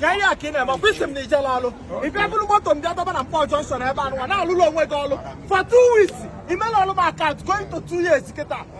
ya ihe a ka ị na-eme ọkwa ị sị m na ị jela ọlụ ị bịa buru moto m bịa dọba na Nkpor jọnshọn ebe anụwa na-alụrụ onwe gị ọlụ for two weeks imela ọlụ m akaụntụ going to two years kịta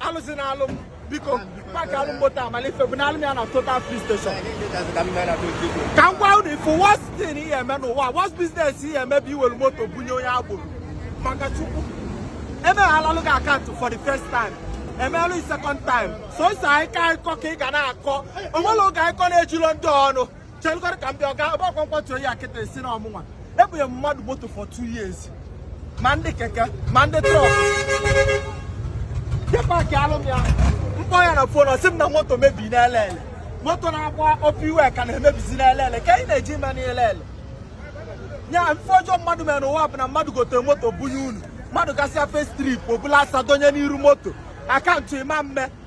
alụzi na alụ m biko paki alụ m moto amala ife buna alụ m ya na Total filling station ka m gwa unu ị fụ worst thing ị ya-eme n'ụwa worst business ị ya-eme bụ iwere moto bunye onye agboro maka chukwu emeghalalụ gị akaụntụ for the first time emerụ second time so isi anyị akịkọ ka ị ga na-akọ o nwere oge akịkọ na-ejiro ndị ọnụ chelụgodu ka m bịa ọga ebe ọkwa m kwatuo ya kịta a sị na ọ mụnwa ebunye m mmadụ moto for two years ma ndị keke ma ndị trọk je paki alụ m ya m kpọọ ya na fon ọ sị m na moto mebi n'Elele moto na-agba Upper Iweka na-emebizi n'Elele kee ihe ọ na-eje ime n'Elele ya ife ọjọọ mmadụ mere n'ụwa bụ na mmadụ gotere moto bunye unu mmadụ gasịa first trip o bulu asa dọnye n'iru moto akaụntụ ị ma eme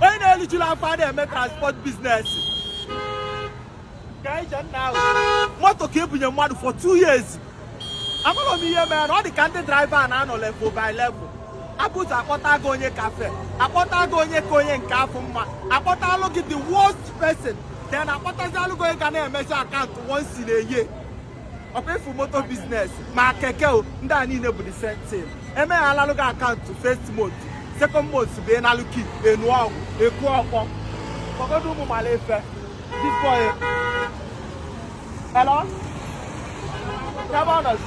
onye na-erijula afọ a na-eme transport biznes ka ije nna ahụ moto ka ebunye mmadụ for two years amarọ m ihe mere ọ dị ka ndị draiva na-anọ level by level ebuzọ akpọta gị onye kafe akpọta gị onye ka onye nke afụ mma akpọta alụ gị the worst person then akpọtazi alụ gị onye ga na-emezi akaụntụ once in a year ọkwa ị fụ moto biznes ma keke o ndị a niile bụ the same thing emeghalalụ gị akaụntụ first month second month bụ ị nalụ key enu ọgwụ eku ọkpọ kpọgodu ụmụ mara efe bifo ya hello ebe ọ nọzi